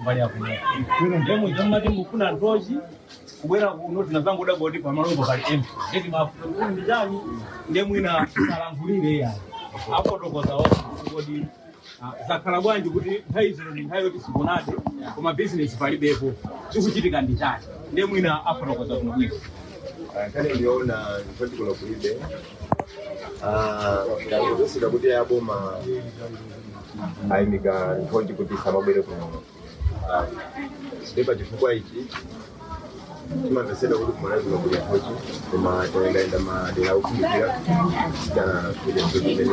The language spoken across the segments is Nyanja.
mbali ya kuno kuno ndiye mumati mufuna nthochi kubwera kuno tinazangodabwa kuti pamalongo pali embe eti mafuta ndi chani ndiye mwina salankhulire yayi apotokoza onse kuti ah, zakhala bwanji kuti nthawi zino ndi nthawi yoti sikunati koma bizinesi palibepo chikuchitika ndi chani ndiye mwina apotokoza kumabwino kale ndinaona kuti kuno kulibe Ah, ndakuzisira kuti aboma ayimika nthochi kuti samabwere kuno Ah, ndi pa chifukwa ichi timamvesedwa kuti kumalazima kuli nthochi koma tayendayenda madera okhumbikira tanakuja nthochi imene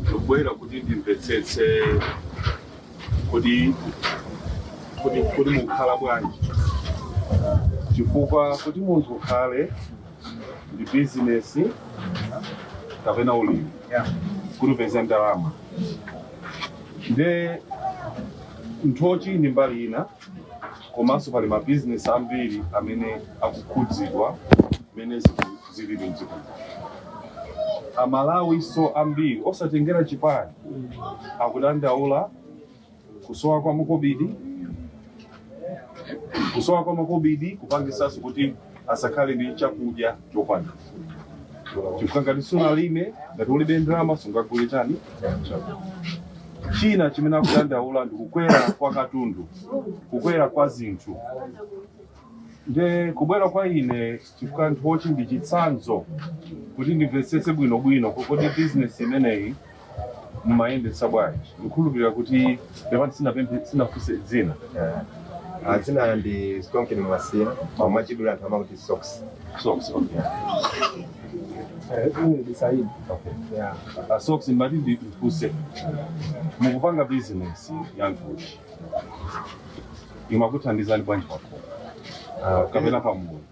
ndikubwera kuti ndimvetsetse kuti kodi mukhala bwanji chifukwa kuti munthu ukhale ndi bizinesi kapena ulimi kuti upeze ndalama nde nthochi ndi mbali ina komanso pali mabizinesi ambiri amene akukhudzidwa mmene zinthu zilili mdziko amalawinso ambiri osatengera chipani akudandaula kusowa kwa makobidi kusowa kwa makobidi kupangisanso kuti asakhale ndi chakudya chokwanira chifukwa ngati sunalime ngati ulibe ndalama sungagule chani china chimene akudandaula ndi kukwera kwa katundu kukwera kwa zinthu nde kubwera kwa ine chifukwa nthochi ndi chitsanzo kuti ndimvetsetse bwinobwino kodi bizinesi imeneyi mumayendetsa bwanji ndikhulupirira kuti pepani sinapemphe sinafunse dzina Ah, dzina ndi Stonkin Mwasiya, omwe achidula anthu amakuti Sox. socks okay. ndisaidi Uh, socks ndimati ndifunse mukupanga bizinesi ya nthochi imakuthandizani bwanji pakhomo Ah, kapena pamudzi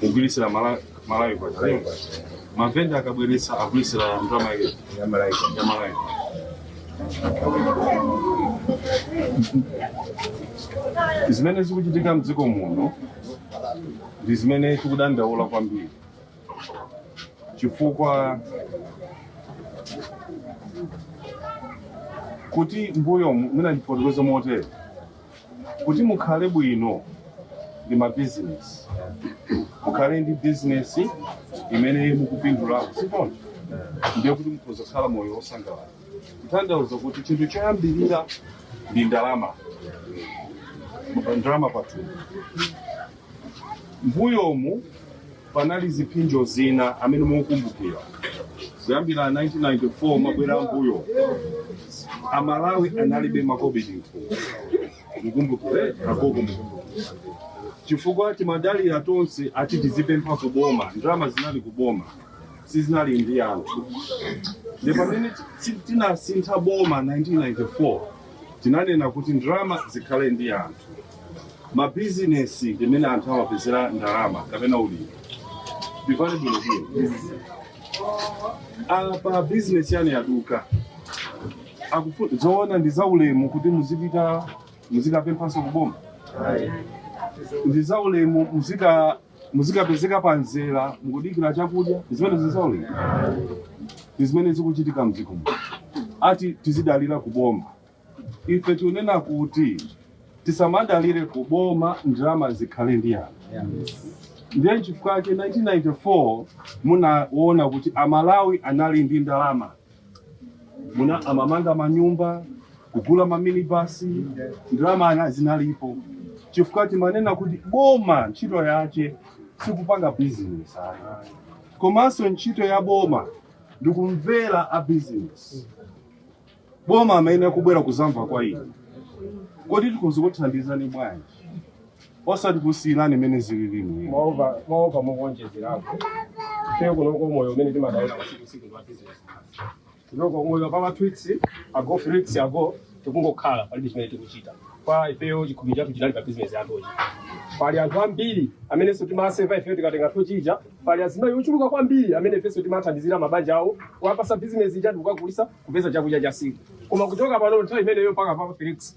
kugwiritsira mala- malawi kwa Malawi kwa chimene. mavenda akabweretsa agwiritsira ndalama yake Ya Malawi kwa ya malawi zimene zikuchitika mdziko muno ndi zimene tikudandaula kwambiri chifukwa kuti mbuyo mwina ndifotokoze motere Kuti mukhale bwino ndi mabizinesi, mukhale ndi bizinesi imene mukupindulako, si choncho? Ndiye kuti mukhoza kukhala moyo wosangalala. Kutanthauza kuti chinthu choyambirira ndi ndalama, ndalama pathumba. Mbuyomu panali ziphinjo zina amene mukukumbukira kuyambira 1994 kubwerera mbuyo amalawi analibe makobidi mthumba mukumbukire agogo mukumbukire chifukwa timadalira tonse ati tizipempha kuboma ndalama zinali kuboma sizinali ndi anthu ndi pamene ti- tinasintha boma 1994 Tinanena kuti ndalama zikhale ndi anthu, mabizinesi m'mene anthu amapezera ndalama kapena ulimi. zikhale bwino bwino. Apa bizinesi yanu yaduka. Akufu- Zoona ndi zaulemu kuti muzipita muzikapemphanso kuboma. Ndi zaulemu muzika muzikapezeka pa mzera mukudikira chakudya zimene zikuoneka ndi zimene zikuchitika mdziko muno ati tizidalira kuboma ife tikunena kuti tisamadalire kuboma ndalama zikhale ndi anthu ndiye nchifukwa chake 1994 munaona kuti amalawi anali ndi ndalama muna amamanga manyumba kugula maminibasi ndalama zinalipo chifukwa timanena kuti boma ntchito yace sikupanga bizinesi ayi komanso ntchito ya boma ndikumvera a bizinesi boma limayenera kubwera kuzamva kwa inu kodi tikhoza kuthandizani bwanji osati kusiyirani mmene zililimu mwaopa mwaopa mukuonjezerapo ife kunoko moyo umene timadalira tsiku ndi tsiku pa business kunoko moyo pa matwix ago flix ago tikungokhala palibe chimene tikuchita kwa ifeyo chikhomo chathu chinali pa business yathuyi pali anthu ambiri amenenso timaseva ifeyo tikatenga tochija pali azimayi ochuluka kwambiri amene ifenso timathandizira mabanja awo kuwapasa business ija ndikukagulisa kupeza chakudya cha tsiku koma kuchoka pano nthawi imeneyo mpaka papa felix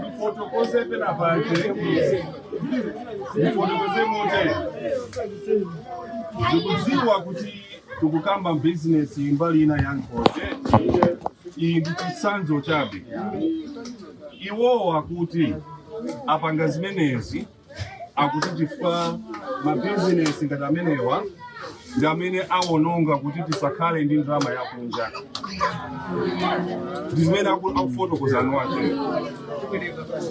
Ndifotokoze pena pake. Ndifotokoze motere. Mukudziwa kuti tikukamba business mbali ina ya nkhosi. Ichi ndi chitsanzo chabe. Iwowa kuti apanga zimenezi akuti chifukwa mabizinesi ngati amenewa ndi amene awononga kuti tisakhale ndi ndalama yakunja ndi zimene aku- akufotokozani wake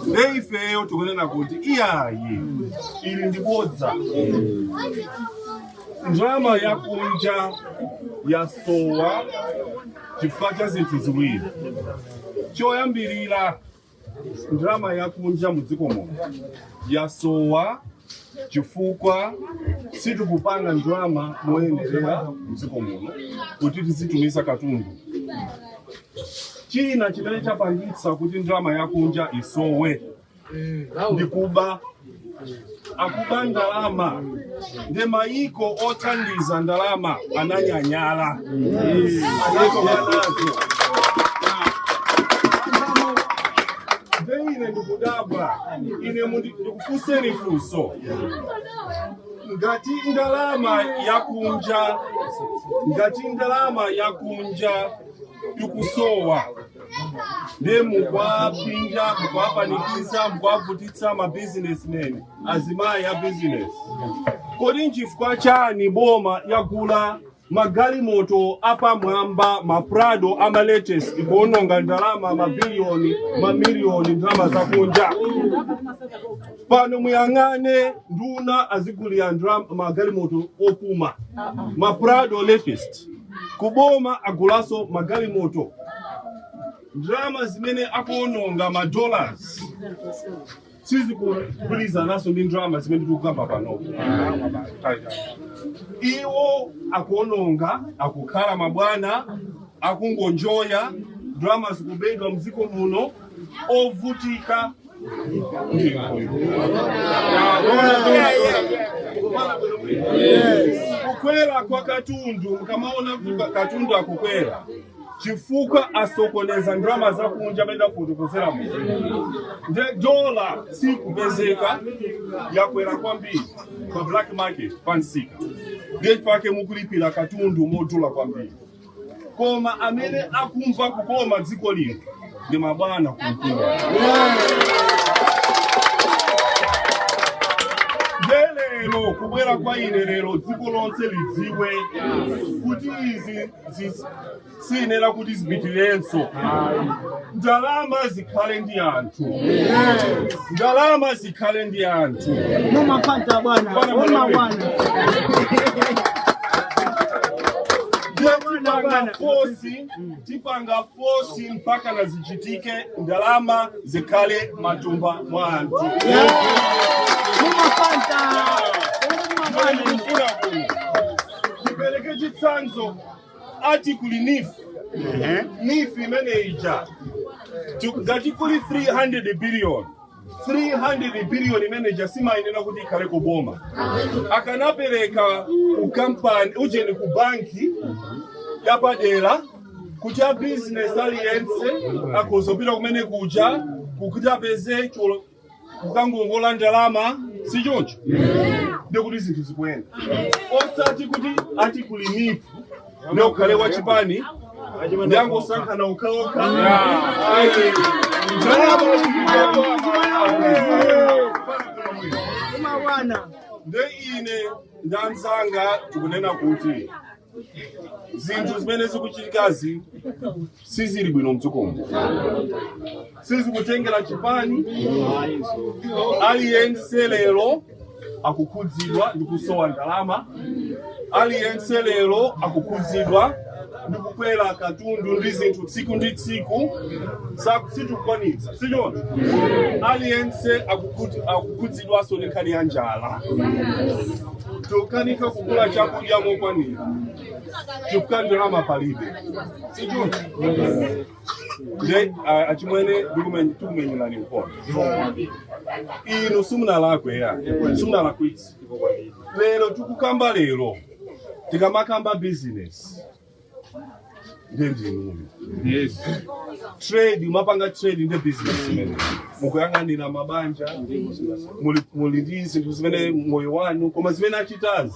nde ifeyo tikunena kuti iyayi ili ndi bodza ndalama yakunja yasowa chifukwa cha zinthu ziwiri choyambirira ndalama yakunja mu dziko muno yasowa chifukwa sitikupanga ndalama moyenerera mu dziko muno kuti tizitumiza katundu china chimene chapangitsa kuti ndalama yakunja isowe ndi kuba akuba ndalama ndi mayiko othandiza ndalama ananyanyala nde ine ndikudabwa ine mundi- ndikufunseni funso ngati ndalama yakunja ngati ndalama yakunja ikusowa nde mukuwapinda mukuwapanikiza mukuwavutitsa mabizinesmen azimayi a bizinesi kodi nchifukwa chani boma lagula magalimoto apamwamba maprado amalatest kuononga ndalama mabiliyoni mamiliyoni ndalama zakunja pano muyang'ane nduna azigulira magalimoto opuma maprado latest kuboma agulanso magalimoto ndalama zimene akuononga ma dollars sizikugwirizananso ndi ndalama zimene tikukamba pano iwo akuononga akukhala mabwana akungonjoya ndalama zikubedwa mdziko muno ovutika kukwera kwa katundu mukamaona kuti ka- katundu akukwera chifukwa asokoneza ndalama zakunja mmene ndafotokozeramu nde dola sikupezeka yakwera kwambiri pa black market pamsika mpake mukulipira katundu modula kwambiri koma amene akumva kukoma dziko lino ndi mabwana kumpingo nde lero kubwera kwa ine lero dziko lonse lidziwe kuti izi zi- siyenera kuti zipitirenso ndalama zikhale ndi anthu ndalama zi tikhale ndi anthu mumafanta bwana mumawana tipanga fosi tipanga fosi mpaka na zichitike ndalama zikhale matumba mwa anthu mumafanta ndikufuna kuno tipereke chitsanzo ati kuli NEEF NEEF imene ija Ti- ngati kuli 300 billion 300 biliyoni imeneja simayenera kuti ikhale ku boma akanapereka ku kampani ujeni ku banki yapadera kuti a bizinesi aliyense akhozopita kumene kuja kuti apeze choti- kukangongola ndalama si choncho ndikuti zinthu zikuyenda osati kuti ati kuli NEEF na ukhale wa chipani nde angosankhana okhaokha nde ine ndi anzanga tikunena kuti zinthu zimene zikuchitikazi sizili bwino mdzikomo sizikutengera chipani aliyense lero akukhudzidwa ndi kusowa ndalama aliyense lero akukhudzidwa ndi kukwera kwa katundu ndi zinthu tsiku ndi tsiku Sa- sitikukwanitsa sichoncho aliyense akukhuti- akukhudzidwanso ndi nkhani ya njala tokanika kugula chakudya mokwanira chifukwa ndalama palibe sichoncho nde a- achimwene ndikumenya- tikumenyerani nkhondo inu simunalakwe ayi simunalakwitse lero tikukamba lero tikamakamba business nde ndinu trade mapanga trade nde business imene mukuyang'anira mabanja muli muli ndi zinthu zimene moyo wanu koma zimene achitazi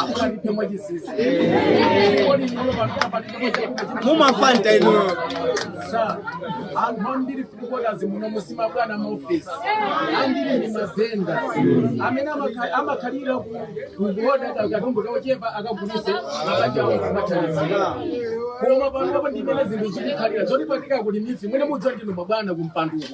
akulandani mwachinsinsi kodi inuyo pamtapa mumafanta inuyo anthu ambiri filikotazi muno musima bwana maofesi ambiri ndi mavenda amene amakha- amakhalira ku- kukuoda ka- katundu kochepa akagulise akajawo kumathandizira koma panopo ndimene zinthu zikukhalira zoti patika kuti mifi mwene mudziwa ndinu mabwana kumpanduko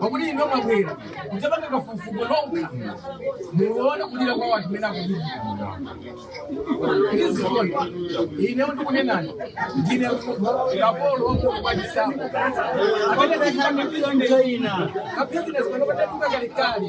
pakuti inu mwabwera kudzapanga kafukufuku nokha muone kulira kwa wanthu mene akulira ndizikoni inewo ndikunenani ndine kapolo wakuokupatisapo amene ndakhala kapitani kapitani zimene patatunga kalekale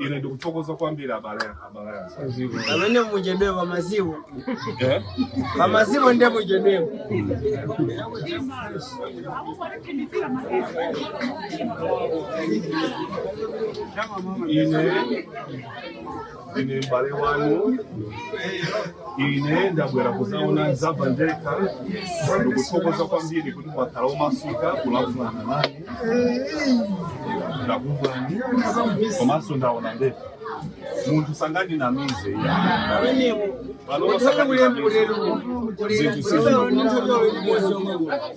ine ndikuthokoza kwambiri abale abale anzanga. pamene muchedwepo pamaziwo Eh? pamaziwo nde muchedwepo ine ine m'bale wanu ine ndabwera kuzaona nzamva ndekha ndikuthokoza kwambiri kuti mwakhala omasuka kulankhulana nane ndakumvani komanso ndaona ndekha munthu sangandinamize panopa sangandinamize zinthu sizili